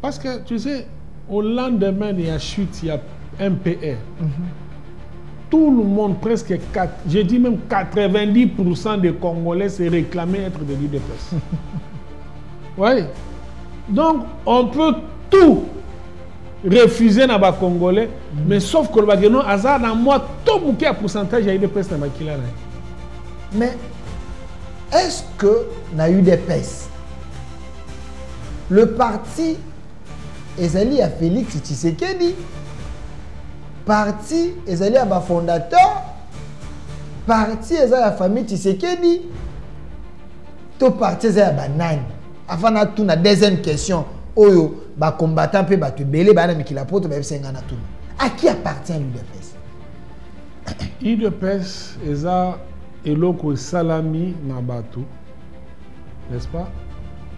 Parce que tu sais, au lendemain de la chute, il y a MPR. Mm -hmm. Tout le monde, presque 4, j'ai dit même 90% des Congolais se réclamaient être des leaders. oui. Donc, on peut tout refuser na ba congolais mm. mais sauf que le bageno aza na moi to muke ya pourcentage ya udps na makila na mais est ce que na udps le parti ezali ya félix tshisekedi parti ezali ya bafondateur parti eza ya famille tshisekedi to parti eza ya banani avant natuna deuxième question oyo bacombattant mpe bato ebele baya na mikila poto bayebisa ngai natuna à qui appartient l'udps udps eza eloko esalami na bato n'est-ce pas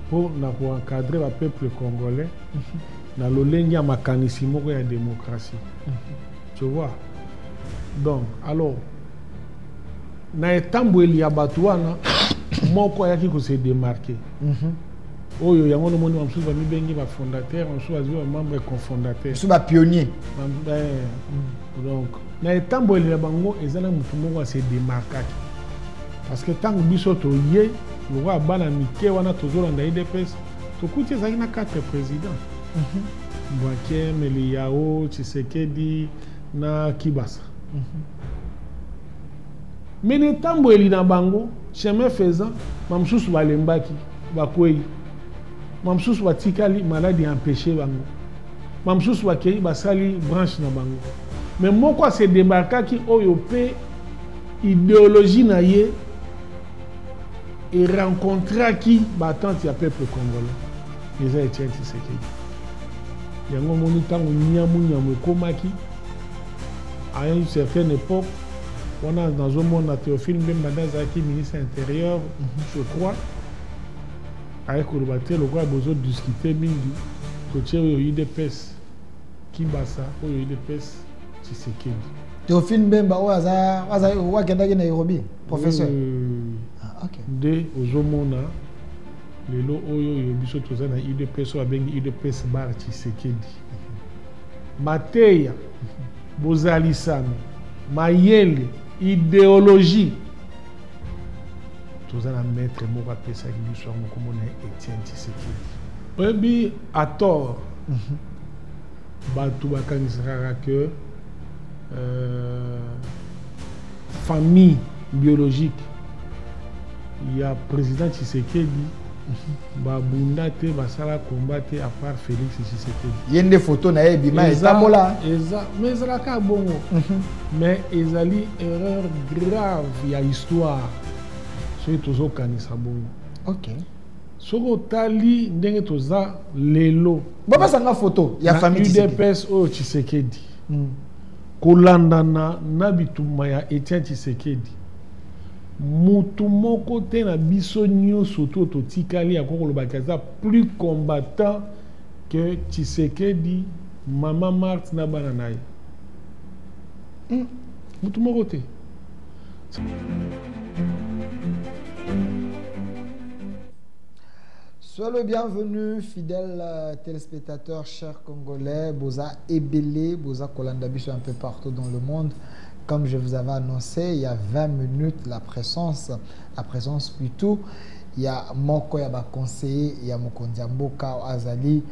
mpo na koencadre bapeuple congolais na lolenge ya makanisi moko ya démocratie tu vois donc alors na etambweli ya bato wana moko ayaki kose démarquer mhm. oyo yango nomoni bamosusu bamibengi bafondateur bamosusu bazwi bamembre confondateur mosusu bapionnier eh, donc na etambweli ya bango eza na motu moko ase démarkaki parce que ntango biso toye lokola bana mike wana tozolanda idps tokuti ezalaki na quatre président mhm. mbwake meliyao tshisekedi na kibasa mhm. me na etambweli na bango chemin faisant bamosusu balembaki bakwei bamosusu batikali maladi ya empeshe bango bamosusu bakei basali branche na bango me moko asedebarkaki oyo mpe Ideologie na ye e rencontraki ba attentes ya peuple congolais eza Etienne Tshisekedi. Yango moni tango nyamu nyamu ekomaki à une certaine époque wana nazomona Théophile Mbemba nde azalaki ministre ya intérieur mhm. je crois aye koloba te lokola bozo discute mingi totie oyo idps kimbasa oyo idps tshisekedi théophile mbemba oyo oyo akendaki na nairobi professeur hmm. ah, nde ozomona lelo oyo oyo biso toza na udps oyo abengi udps bar tshisekedi mateya bozalisami mayele ideologie toza na maître moko apesaki biso yango komona etienne tshisekedi oyebi atort mhm. Batu bakanisaka que euh, famille biologique ya président Tshisekedi babunda te basala combat te à part Félix Tshisekedi. Ye nde photo na ye bima etambola. Eza mais ezalaka bongo. Mhm. Mais ezali erreur grave ya histoire. Soki tozokanisa bongo. Okay. soki otali ndenge toza lelo bapesa nga foto ya famille udps oyo tshisekedi mm. kolandana na bitumba ya etienne tshisekedi motu moko te na biso nyonso to totikali yango kolobaki aza plus combattant que tshisekedi mama marte na bana na ye mm. motu moko te Sois le bienvenu, fidèle euh, téléspectateur, cher Congolais, Boza Ebele, Boza Kolandabiso un peu partout dans le monde. Comme je vous avais annoncé, il y a 20 minutes, la présence, la présence plutôt, il y a Moko, il y a conseiller, il y a Mokondiamboka, Azali,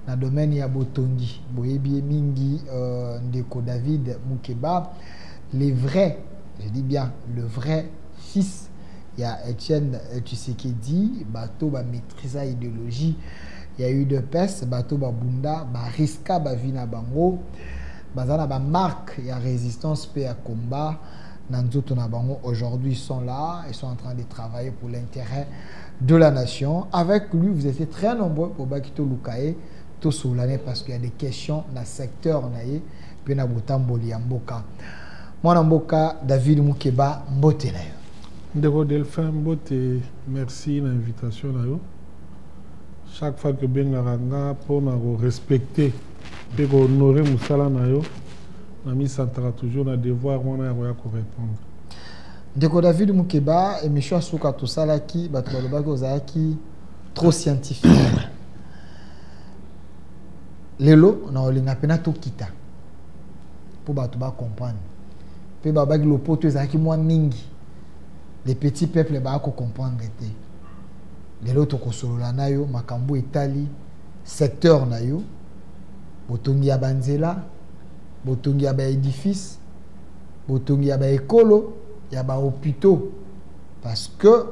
dans le domaine, il y a Botongi, Boyebi Mingi, euh, Ndeko David, Mukeba. le vrai je dis bien le vrai fils ya Etienne Tshisekedi bato ba maîtrisa idéologie ya udps bato babunda bariska bavi na bango baza na bamarque ya résistance mpe ya combat na nzoto na bango aujourd'hui sont là ils sont en train de travailler pour l'intérêt de la nation avec lui vous étiez très nombreux pour bakito lukaye tosolane parce qu'il y a des questions na secteur na ye mpe na botamboli ya mboka mwana mboka david mukeba mbote na yo ndeko delphin mbote merci na invitation na yo chaque fois que bengaka nga mpo na korespecte mpe kohonore mosala na yo namisantaka toujours na devoir wana ya koya korépondre ndeko david mukeba émission ya suka tosalaki bato balobaki ozalaki trop scientifique lelo na olinga mpena tokita mpo bato bacomprendre mpe babaki lopoto ezalaki mwa mingi le petit peuple baya kocomprendre te lelo tokosolola na yo makambo etali secteur na yo botongi ya banzela botongi ya baedifice botongi ya baekolo ya bahopitaux parce que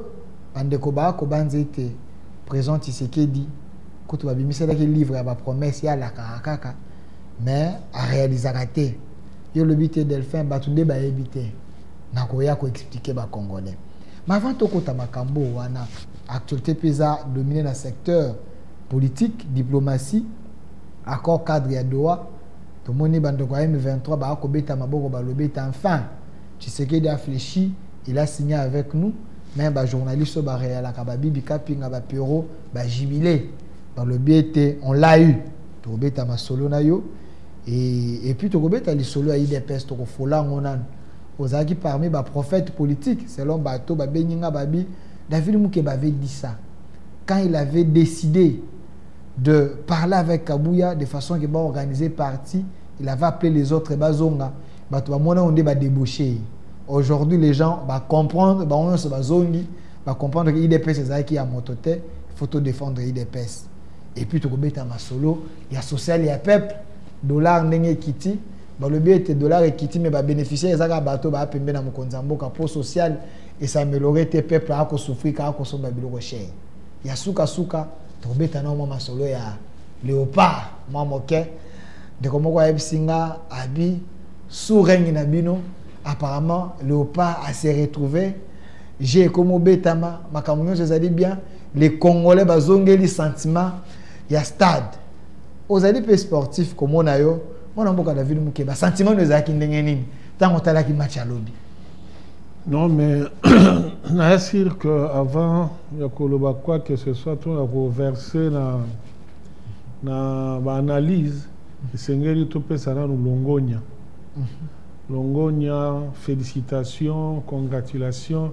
bandeko baya kobanza ete présent tisekedi kutu babimiselaki livre ya bapromese ye alakaka kaka mais arealisaka te yo olobi te delphin bato nde bayebi te nakoya koexplike bacongolais ma avant tokota makambo wana actualité mpe eza domine na secteur politique diplomatie accord cadre ya doha tomoni bandeko ya m23 baya kobeta maboko balobi ete enfin tshisekedi aflechi il a signé avec nous me bajournaliste oyo bareyalaka babibi kapinga bapero ba jubile balobi ete on l'a eu tokobeta masolo na yo et, et puis tokobeta lisolo ya idps tokofola yango nanu ozalaki parmi baprophète politique selon bato babengi nga babi david mukeba avait dit ça quand il avait décidé de parler avec kabuya de façon que baorganiser parti il avait appelé les autres bazonga bato bamona yo nde badebauche ye aujourd'hui les gens bacomprendre bango nyonso bazongi ba comprendre que idps ezalaki ya moto te il faut to défendre idps et puis tokobeta masolo ya social ya peuple dollar ndenge ekiti balobi ete dollar ekiti me babénéficiaire eza kaka bato baa pembe na mokonzi ya mboka mpo social esamelore te peuple akosouffri kaka kosomba biloko chere ya sukasuka tokobeta nao mwa masolo ya léopard mwa moke ndeko moko ayebisi nga abi sous règne na bino apparemment léopard ase retrouver je ekomi obetama makambo nyonso ezali bien les congolais bazongeli sentiment ya stade ozali mpe sportif komona yo mwana mboka david moke basentiment no ezalaki ndenge nini ntango otalaki match ya lobi non mais naya sur que avant ya koloba quoi que ce soit to ya koverse na, na baanalyse esengeli topesa nanu longonya mhm. Longonya, felicitations, congratulations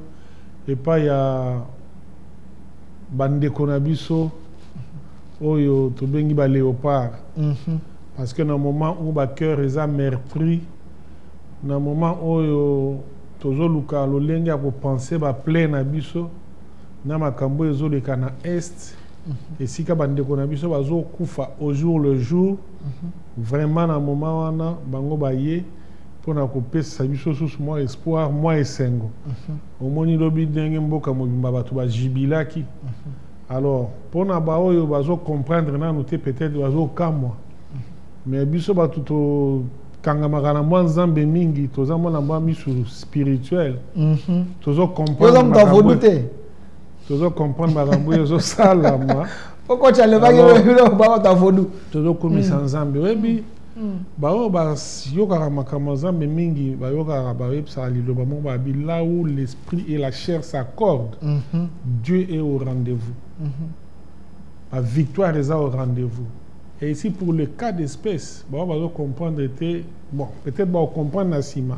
epai ya bandeko na biso oyo tobengi ba léopard mm -hmm. parce que na moment où ba cœur eza meurtri na moment oyo tozoluka lolenge ya kopense ba plai na biso na makambo ezoleka na est mm -hmm. esika bandeko na biso bazokufa au jour le jour vraiment na moment wana bango baye mpo na kopesa biso susu mwa espoir mwa esengo mhm. omoni lobi ndenge mboka mobimba bato bajibilaki mhm. alors mpo na baoyo bazocomprendre nanu te peut-être bazokamwa mhm. mais biso bato tokangamaka na mwa nzambe mingi toza mwana mwa misu spirituel tozocomprendre te tozo comprendre makambo oyo ezosalama okoca alobaki bakota vodu tozokumisa mm. nzambe oyebi mm. baoyo bayokaka makambo ya nzambe mingi bayokaka bayebisaka liloba moko babi là où l'esprit et la chair s'accorde mm-hmm. dieu est au rendez-vous mm-hmm. la victoire eza au rendez-vous et ici pour le cas d'espèce baoyo bazocomprendre te bon peut-être baocomprendre na nsima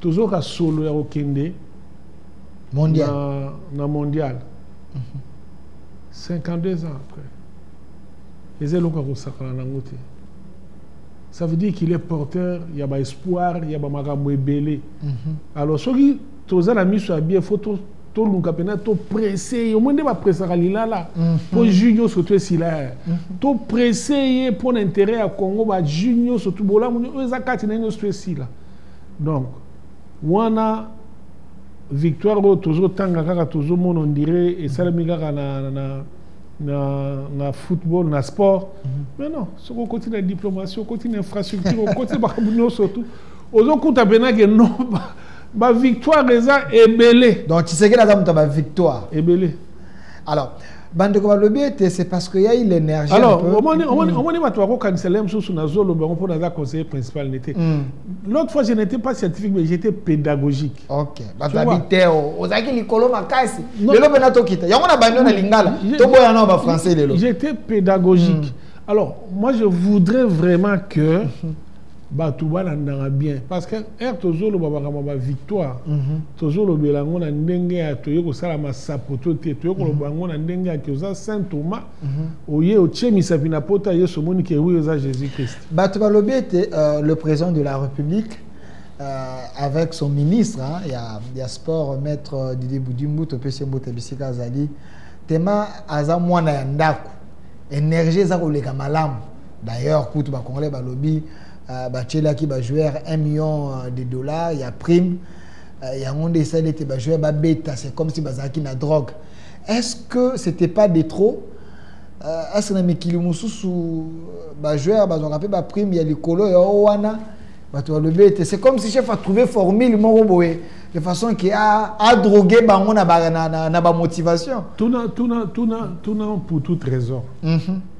tozoka solo ya kokende mondial. Na, na mondial mm -hmm. 52 ans après eza eloko ya kosakana nango te ça veut dire qu'il est porteur ya baespoir ya bamakambo ebele mm -hmm. alors soki toza na miso ya bie fo toluka mpena topresse ye omoi nde bapresaka lilala mhm. mpo jus nyonso to esila ye mhm. topresse ye mpo na interet ya congo bajus nyonso bolamu oyo eza kati na ye nyonso to esila donc wana victoire oyo tozotanga kaka tozomona ondire esalemi kaka na, na, na, na football na sport mm -hmm. mais non soki okoti na diplomatie okoti na infrastructure okoti makambo nyonso tu ozokuta mpena ke no bavictoire eza ebele donc tshisekedi aza moto ya bavictoire ebele alors bandeko balobi ete c'est parce que yai l'énergie alors omoni omoni mm. omoni bato bakokanisa le mosusu nazoloba yango mpo naza conseiller principal ne te mm. l'autre fois je n'étais pas scientifique mais j'étais pédagogique ok bato ya biteo ozalaki likolo makasi lelo mpena tokita yango na bando na lingala toboya nao bafrançais lelo j'étais pédagogique mm. alors moi je voudrais vraiment que bato balandaka bien parce que ere tozoloba makambo ba victoire mhm. tozolobela yango na ndenge ya toye kosala masapoto te toye koloba yango na ndenge ya ke oza saint thomas mhm. oye otie misapi na pota yesu omoni ke wi oza jésus christ bato balobi ete euh, le président de la république Euh, avec son ministre hein, ya, ya sport maître euh, didier budimbu topesi mbote bisika azali tema aza mwana ya ndako energie eza koleka malamu d'ailleurs kutu bacongolais balobi uh, batielaki bajoueur 1 million euh, de dollars ya prime uh, yango nde esali ete bajoueur babeta c'est comme si bazalaki na drogue est-ce que c'était pas de trop uh, est-ce que na mikili mosusu bajoueur bazwaka mpe baprime ya likolo ya o wana bato balobi ete c'est comme si chef atrouve formule moko boye de façon ke adrogue ah, bango na bamotivation tuna, tuna, tuna, tuna pour toute raison mm -hmm.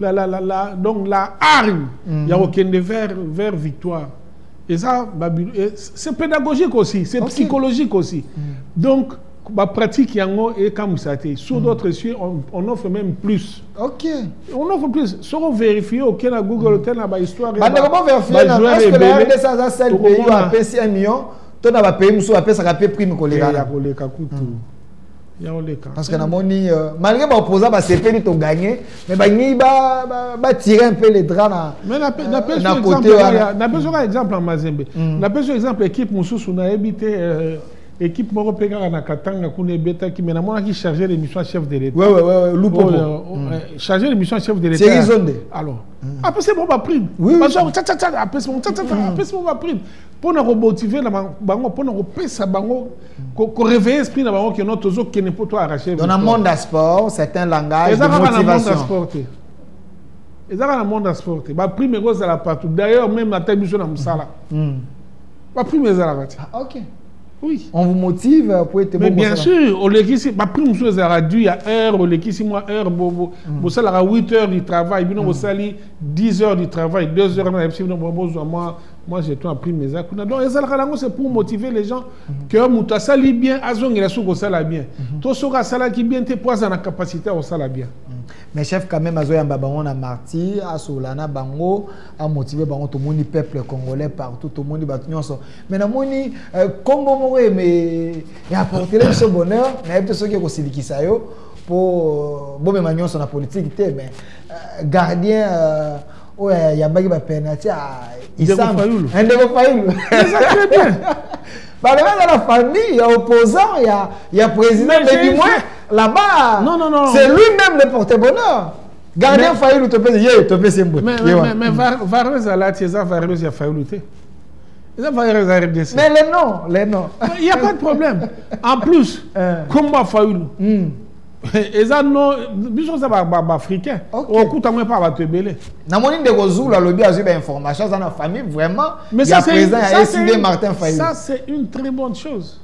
la, la, la, la, donc la hargne mm. ya kokende vers, vers victoire eza eh, c'est pédagogique aussi c'est okay. psychologique aussi mm. donc bapratique yango ekamwisa te sur mm. d'autres cieux on, on offre même plus ok on offre plus soki overifie oke na google ote na bahistoire bandeko boverifie na est-ce que la rdc aza sel pays oyo apesi 1 million to na bapays mosusu bapesaka mpe prime koleka ya koleka kutu mm. Parce que namoni euh, malgré ba opposants ba sepeli to gagner mais ba ngi ba ba, ba tirer un peu les draps na Mais na pe, na pe na côté wana. Na pe soka exemple en Mazembe. Mm. Na pe soka exemple équipe mususu na ebite euh, équipe moko pe kaka na Katanga kuna ebetaki mais namonaki chargé de mission chef de l'État. Ouais ouais ouais Lupo. Oh, euh, oh, mm. euh, chargé de mission chef de l'État. C'est Izonde. Alors. Mm. Après c'est bon ba prime. Oui. Parce que tcha tcha tcha après c'est bon tcha tcha tcha après c'est bon ba prime. Pona ko motiver na bango pona ko pesa bango ko réveiller esprit na bango que non tozo kene pour toi arracher dans le monde sport c'est un langage de motivation eza kaka na monde ya sport te baprime ekozala partout d'ailleurs même ata biso na mosala hmm. baprime ezalaka te ah, ok oui on vous motive po ete mais bien sûr olekisi baprime mosusu ezalaka du ya heure olekisi mwa heure hmm. bosalaka 8 heures du travail bino hmm. bosali 10 heures du travail 2 heures na yebisi bino bozwa mwa moi j'ai toi prime eza kuna donc ezalaka nango c'est pour motiver les gens mhm. que moto asali bien azongela soki kosala bien mhm. to soki asalaki bien te mpo aza na capacité ya kosala bien mhm. mais chef quand même azoyamba bango na martyr asola na bango amotive bango tomoni peuple congolais partout tomoni bato nyonso mais namoni euh, kombo moko eme eapportele biso bonheur nayebi te soki ekosilikisa yo mpo euh, bomema nyonso na politike te mais euh, gardien oyo ayambaki bapenati ndeko fayulu balobi aza na famille ya opposant ya, ya président mais du moins là-bas non, non, non. c'est lui-même le porte-bonheur gardien fayulu topesi ye topesi mbote mais vareuse alati eza vareuse ya fayulu te eza vareuse ya rdc mais le nom le nom il y a pas de problème en plus kombo ya fayulu hmm. eza no biso eza baafricain okuta ngo epa bato ebele namoni ndeko zulu alobi azwi bainformation aza na famille vraiment ya président ya eside martin fayulu ça c'est une très bonne chose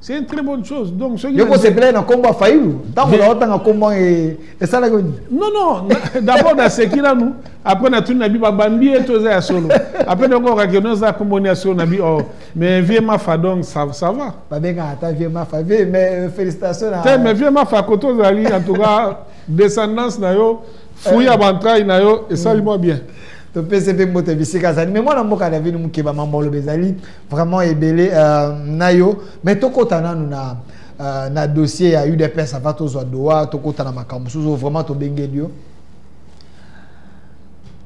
c'est une très bonne chose donc soki yoko sepelaki na nkombo ya fayulu ntango naotanga nkombo esalaki nini non non d'abord naseki nanu après natuni na bi babambi ye to eza ya solo après nakokakeno eza nkombo ni ya solo na bi or oh. Mais vieux Mafa donc ça, ça va. Babenga ata vieux Mafa. Vieux mais euh, félicitations à Te mais vieux Mafa koto zali en tout cas descendance na yo fouille à bantraille na yo et ça moi bien. To pese pe mbote bisika zali mais moi na mboka na vinu mukeba mambolo bezali vraiment ebele euh, na yo mais to kota nanu na euh, na dossier ya UDPS avant to zwa doa to kota na makambo suzo vraiment to bengeli yo.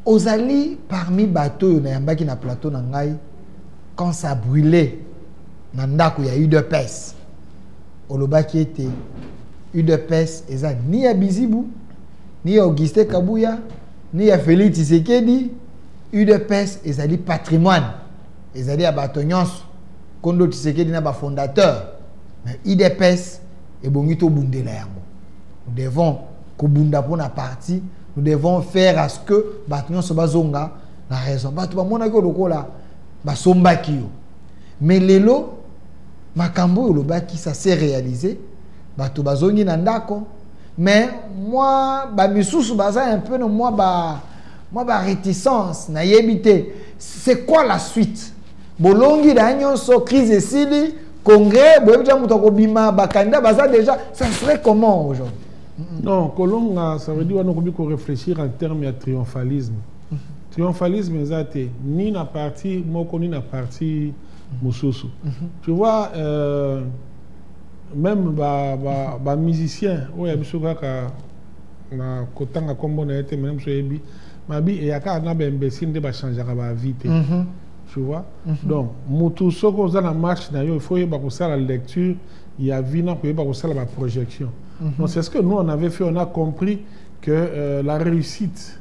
Ozali parmi bato oyo nayambaki na plateau na ngai quand ça brûlait na ndako ya udps olobaki ete udps eza ni ya bizibu ni ya augustin kabuya ni ya félix tshisekedi udps ezali patrimoine ezali ya bato nyonso kondo tshisekedi na bafondateur na udps ebongi tobundela yango nous devons kobunda mpo na parti nous devons faire à ce que bato nyonso bazonga na raison bato bamonaki yo lokola basombaki yo mais lelo makambo oyo olobaki ça s'est réalisé bato bazongi na ndako mais mwa bamisusu baza un peu no mwa ba mwa baréticence nayebi te c'est quoi la suite bolongi na ye nyonso crise esili congrès boyebi te moto akobima bakandida baza déjà ça serait comment aujourd'hui non kolonga ça veut dire wana okomi korefléchir en terme ya triomphalisme triomphalisme eza te ni na parti moko ni na parti mosusu mhm. tu vois euh, même ba, ba, ba musicien oyo ya biso kaka na kotanga nkombo na ye te mene mosu oyebi mabi eyaka na baimbecile nde bachangeaka baavi te mhm. tu vois mhm. donc motu soki oza na marche na yo il faut oyeba kosala lecture ya vi na koyeba kosala baprojection donc c'est ce que nous on avait fait on a compris que euh, la réussite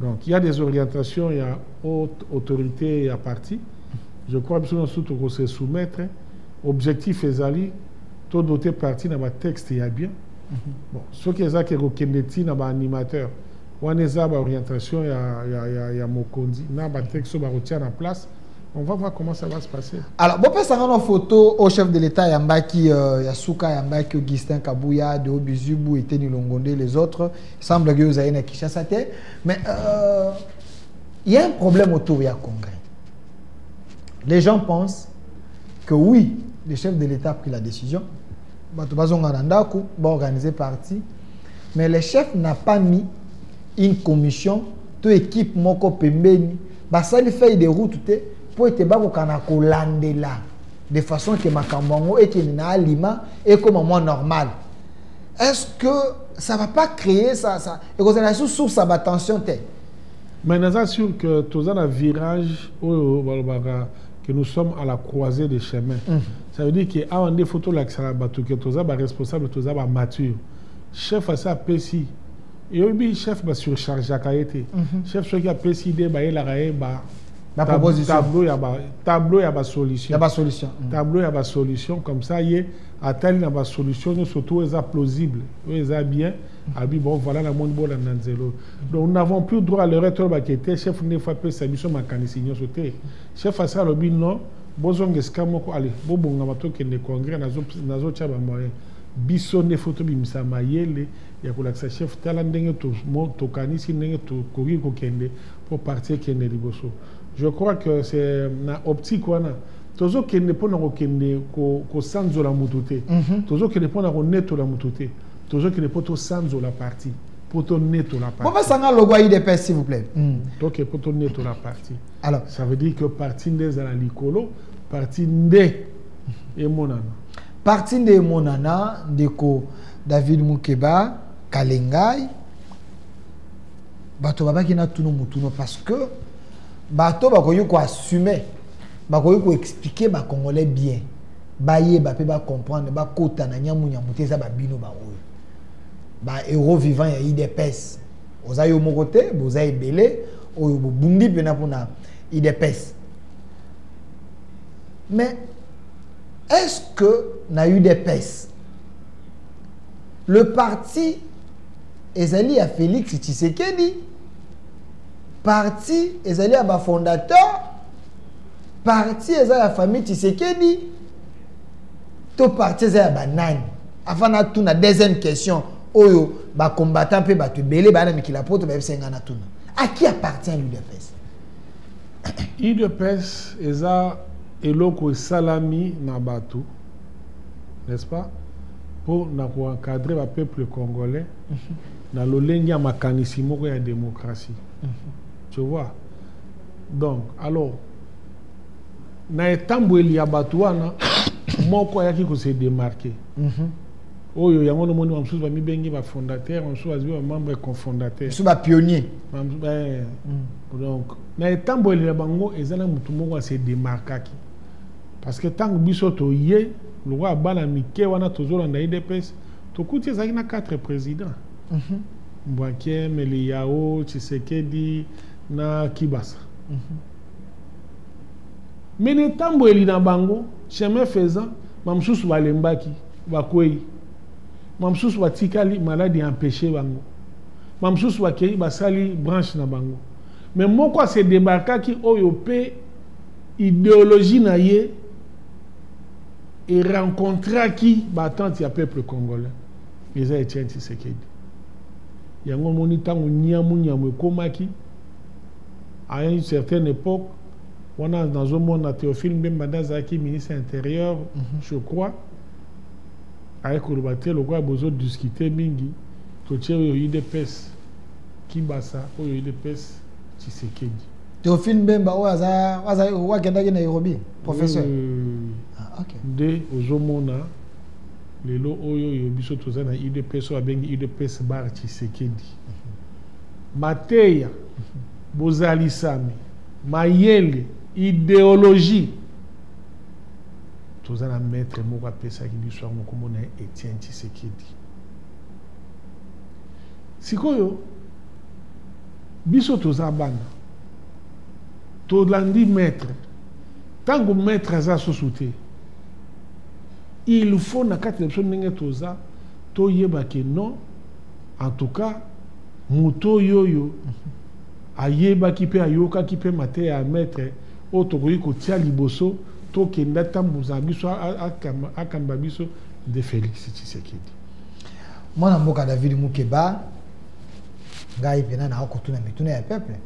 Donc il y a des orientations ya haute autorité ya parti. Je crois biso nyonso toko se soumettre. Objectif ezali to doter parti na ba texte ya bien. Mm -hmm. Bon, soki eza ke kokende ti na ba animateur wana eza ba orientation ya, ya, ya, ya mokonzi na ba texte oyo bakotia na place on va voir comment ça va se passer. Alors, bon, ça en photo au chef de l'État Yambaki euh, Yasuka, Yambaki Augustin Kabuya, de Obizubu, Eteni Longonde, les autres. semble que ozali na kinshasa te mais euh, il y a un problème autour ya congrès les gens pensent que oui le chef de l'état a pris la décision bato bazonga na ndako baorganiser parti mais le chef n'a pas mis une commission to équipe moko pembeni basali feuille de route te mpo ete bakokana kolandela de façon ke makambo yango ekende na alima ekóma mwa normal est-ce que ça va pas créer ça ça et que ça sous source à tension tête mais naza sûr que toza na virage oyo balobaka que nous sommes à la croisée des chemins mm. ça veut dire que awa nde faut tolakisaka bato que toza baresponsable toza bamature chef asi apesi eyobi chef basurchargeaka ye te mhm. chef soki apesi ide bayelaka ye ba tableau ya basolution tableau ya basolution comme ça ye atali na ba solution nyonso to eza plausible oyo eza bien abi bon voilà na moni bolanda nzela oyo donc nous n'avons plus droit à l'erreur tolobaki ete chef ndefu apesa biso makanisi nyonso te chef asi alobi non bozonga esika moko ale bobongama tokende congrès nazotya bamoyen biso nde fo tobimisa mayele ya kolakisa chef tala ndenge tokanisi ndenge tokoki kokende mpo parti ekende liboso je crois que c'est na optique wana tozokende mpo na kokende kosanzola motu te mhm. tozokende mpo na konetola motu te tozokende mpo tosanzola parti mpo tonetola bopesanga logo ya idps s'il vous plaît mm. toke mpo tonetola parti alors ça veut dire que parti nde ezala likolo parti nde emonana parti nde emonana ndeko david mukeba kalengai bato babaki na tuno motuno parce que bato bakoki koassume bakoki ko expliquer ba congolais bien bayeba mpe bacomprendre bakota na nyamunyamu te eza babino baoyo ba euro vivant ya idps oza yo moko te boza ebele oyo bobundi mpena mpona idps mais est ce que na udps le parti ezali ya félix tshisekedi parti ezali ya bafondateur parti eza ya famille tshisekedi to parti eza ya banani afana atuna deuxième question oyo bacombattant mpe bato ebele baya na mikili ya poto bayebisa ngai natuna à qui appartient l'udps udps eza eloko esalami na bato n'est-ce pas mpo na koencadre bapeuple congolais na lolenge ya makanisi moko ya démocratie mhm. tu vois donc alors na etambweli ya bato wana moko ayaki kose demarke mm -hmm. oyo yango nomoni bamosusu bamibengi bafondateur bamosusu bazwi bamembre confondateur mosusu bapionnier eh, mm. donc na etambweli na bango eza na motu moko ase demarkaki parce que ntango biso toye lokola bana mike wana tozolanda edps tokuti ezalaki na quatre président mm -hmm. mbwakieme liyao tshisekedi na kibasa mm -hmm. me na etambweli na bango chemin faisant bamosusu balembaki bakwei bamosusu batikali maladi ya empeshe bango bamosusu bakei basali branche na bango me moko ase debarkaki oyo mpe ideologie na ye erencontraki baatente ya peuple congolais eza etienne tshisekedi Yango omoni ntango nyamu nyamu ekomaki à une certaine époque wana nazomona Théophile Mbemba nde azalaki ministre ya intérieur mm -hmm. je crois aye koloba te lokola bozo discute mingi totie oyo udps kibasa oyo udps tshisekedi Théophile Mbemba oyo aza aza oyo akendaki Nairobi professeur oui. ah, okay. nde ozomona Lelo oyo yo biso toza na udps oyo abengi udps bar tshisekedi mateya bozalisami mayele ideologie toza na maître moko apesaki biso yango nkombo na ye etienne tshisekedi sikoyo biso toza bana tolandi maître ntango maître aza susu te il faut na kati na biso ndenge toza toyeba ke non en tout cas moto oyo oyo ayebaki mpe ayokaki mpe mateya ya maître oyo tokoki kotia liboso tokenda tambuza biso akamba biso nde félix tshisekedi mwana mboka david mukeba ngai mpena naa kotuna mituna ya peuple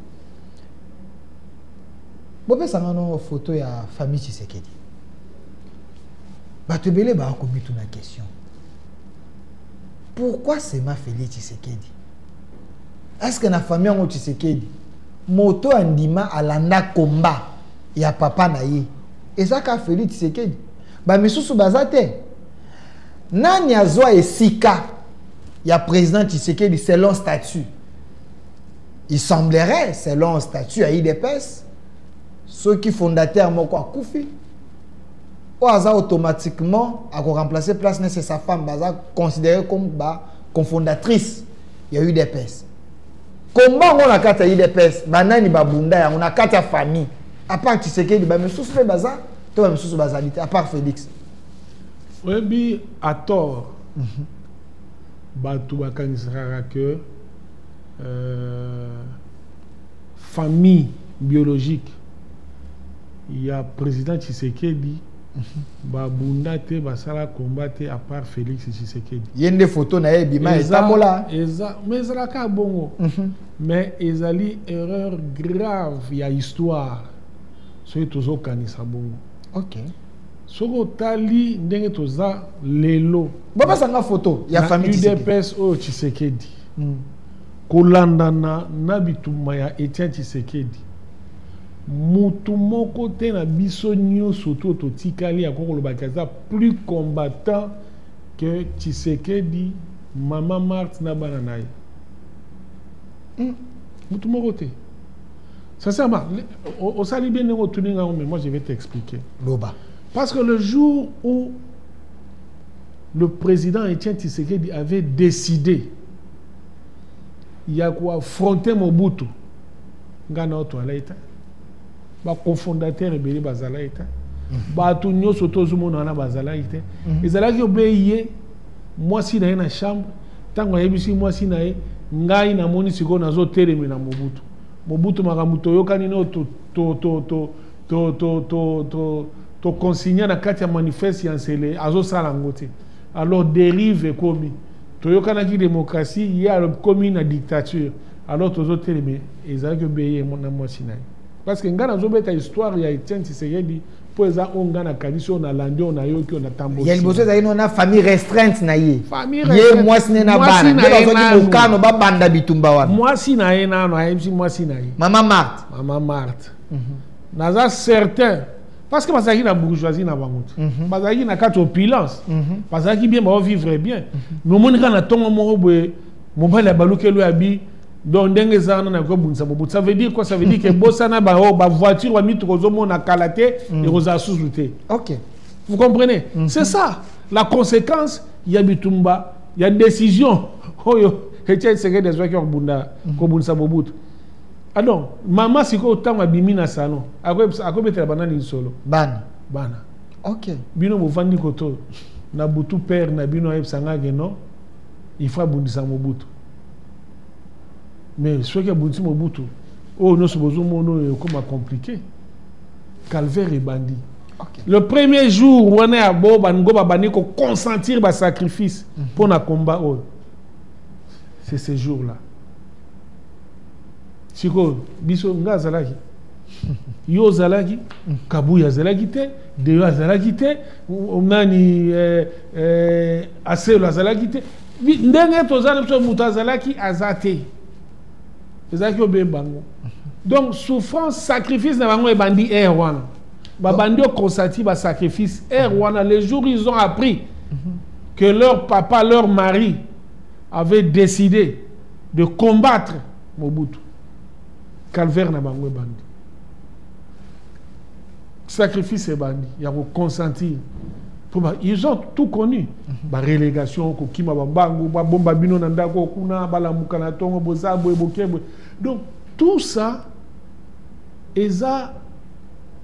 bopesanga no foto ya famille tshisekedi bato ebele baa komituna question pourquoi sema feli tshisekedi est ce que na famille yango tshisekedi moto andima alanda komba ya papa na ye eza ka feli tshisekedi bamisusu baza te nani azwa esika ya président tshisekedi selon statut il semblerait selon statut ya idps soki fondateur moko akufi oyo aza automatiquement ako remplacer place nese sa femme baza considéré comme ba confondatrice ya udps komba yango na kati ya udps banani babunda yango na kati ya famille apart tshisekedi bamisusu mpe baza to bamisusu bazali te apart félix oyebi atort mhm. bato bakanisaka ke euh, famille biologique ya president Tshisekedi ba bunda te basala combat te à part Felix Tshisekedi ye nde photo na ye ebima etambola eza mais ezalaka bongo mhm. mais ezali erreur grave ya histoire soki tozokanisa bongo ok soki otali ndenge toza lelo bapesa nga photo ya famille udps oyo Tshisekedi mm. kolandana na bitumba ya Etienne Tshisekedi Mutu moko te na biso nyoso to totikali ya kokoloba ke aza plus combattant que Tshisekedi, Mama Marthe na bana na ye. Hmm. Mutu moko te. Sincèrement, osali bien ndenge otuni ngai mais moi je vais t'expliquer. Loba. Parce que le jour où le président Etienne Tshisekedi avait décidé ya koaffronter Mobutu nga na oto alai ta baconfondateur ebele bazalaki te mhm. bato nyonso tozomona wana bazalaki te mhm. ezalaki obei ye mwasi na ye na chambre ntango ayebisi mwasi na ye ngai namoni sikoyo nazotelemela mobutu mobutu makambo toyokani no toconsigne na kati ya manifeste ya nsele azosala yango te alors derive ekomi toyokanaki démocratie ye akomi na dictature alors tozo teleme ezalaki obeye na mwasi na ye parce que ngai nazobeta histoire ya etienne tshisekedi mpo eza oyo ngai nakanisi oyo nalandi oyo nayoki oyo natamboya liboso ezalaki no na famille restreinte na ye ye mwasi ne na bana nde bazwaki mokano babanda bitumba wana mwasi na ye nano ayebisi mwasi na ye mama marte mama marte mhm. naza certain parce que bazalaki na bourgeoisie na bango te mhm. bazalaki na kati opulence mhm. bazalaki bien baovivre bien mais omoni kaka na ntongo moko boye mobali abaluki elo ya bi donc ndenge eza wana nakoki obundisa mobutu ça veut dire quoi ça veut dire que bosana baoyo bavoiture bamituka ozomona kala te mm. ekozala susu te ok vous comprenez mm -hmm. c'est ça la conséquence ya bitumba ya décision oyo oh, etia esekedi azwaki ya kobunda mm. kobundisa mobutu adon ah mama sikoyo ntango abimi na salon akobetela banani lisolo bana bana ok bino bovandi koto na butu père na bino ayebisa ngake non il faut abundisa mobutu mais soki abundisi mobutu oyo oh, nyonso bozomona oyo ekoma compliqué calvaire ebandi okay. le premier jour wana ya bo bango babandi koconsentir basacrifice mhm. mpo mm -hmm. na combat oyo oh. c'est ce jour là sikoyo biso nga azalaki yo ozalaki mhm. kabuya azalaki te deyo azalaki te nani eh, eh, aselo azalaki te ndenge toza na biso moto azalaki aza te ezalaki obe bango donc souffrance sacrifice na bango ebandi aire wana babandi okonsati basacrifice aire wana les jours ils ont appris que leur papa leur mari avait décidé de combattre mobutu calvaire na bango ebandi sacrifice ebandi ya ko consentir mpo ils ont tout connu mhm. barelégation kokima bambangu babomba bino na ndako kuna balamuka na ntongo boza boye boke boye donc tout ça eza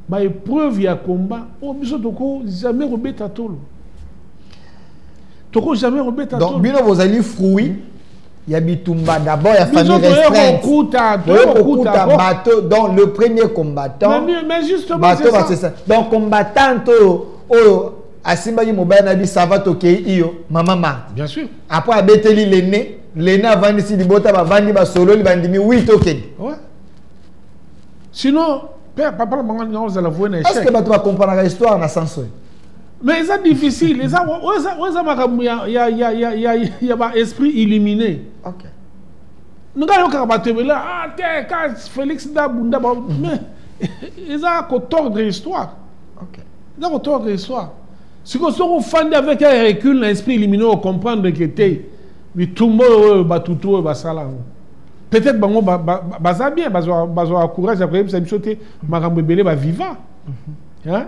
baepreuve ya combat oyo oh, biso toko jamais kobeta tolo toko jamais kobeta tolo donc bino bozali fruit ya bitumba d'abord ya famille restreinte boyokokuta bato donc le premier combattant bato basesa donc combattante oyo oyo asimbaki mobali na biso ava tokei iyo mama marte bien sûr après abeteli lene lene avandisi libota bavandi basololi bandimi wi tokende ouais. sinon papa na bango naozala voye na échec parce que bato bakompranaka histoire na sens oyo mais eza difficile eza oyo eza makambo ya, ya, ya, ya, ya, ya ba esprit illuminé okay. nga yokaka bato ebele ah, te ka félix nda bunda ba mais eza kotordre histoire okay. eza kotordre histoire sikoyo soki ofandi avec un recul na esprit illuminé ocomprendre ke te bitumba oyo batutu oyo basala yango peut-être bango baza ba, ba, ba bien bazwaka courage ya koyebisa biso te makambo ebele baviva mm -hmm. hein?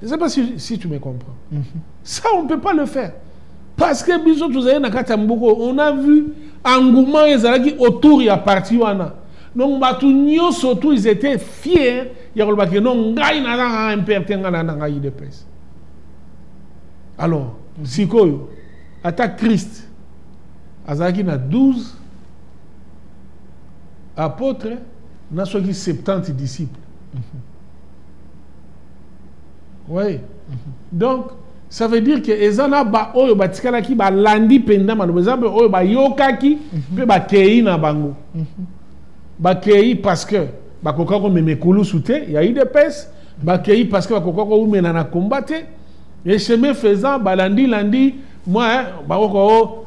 Je ne sais pas si, si tu me comprends. Mm -hmm. Ça, on ne peut pas le faire. Parce que biso tozali na kati ya mboka on a vu engouement ezalaki autour ya parti wana donc bato nyonso tout ils étaient fiers ya koloba ke non ngai nazanga mpr te ngai nanda ngai udps alors mhm. sikoyo ata christ azalaki na 12 apôtre na soki 70 disciples oui donc ça veut dire que eza na baoyo batikalaki balandi mpenza maloba eza mpe oyo bayokaki mpe bakei na bango bakei parce que bakoka komema ekulusu te ya udps bakei parce que bakoka koumela na komba te et chemin faisant balandi landi mwa eh, bakokao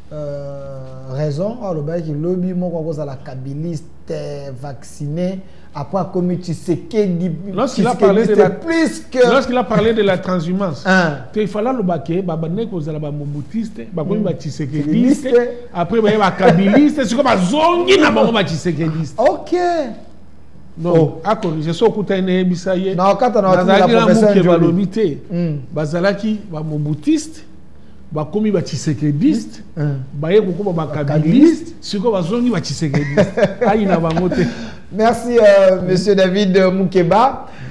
Euh, raison oyo alobaki lobi moko akozala kabiliste vacciné après akomi tshisekedi lorsqu'il a parlé de la plus que lorsqu'il a parlé de la transhumance te il fallait aloba ke babandaki kozala bamobutiste bakomi mm. batshisekediste après baye bakabiliste sikoyo bazongi na bango batshisekediste ok donc oh. akorige so okutani nayebisa ye nazalaki na moke balobi te mm. bazalaki bamobutiste bakomi ba tshisekediste baye kokoma ba kabiliste sikoyo bazongi ba tshisekediste ayina bango te merci euh, monsieur david mukeba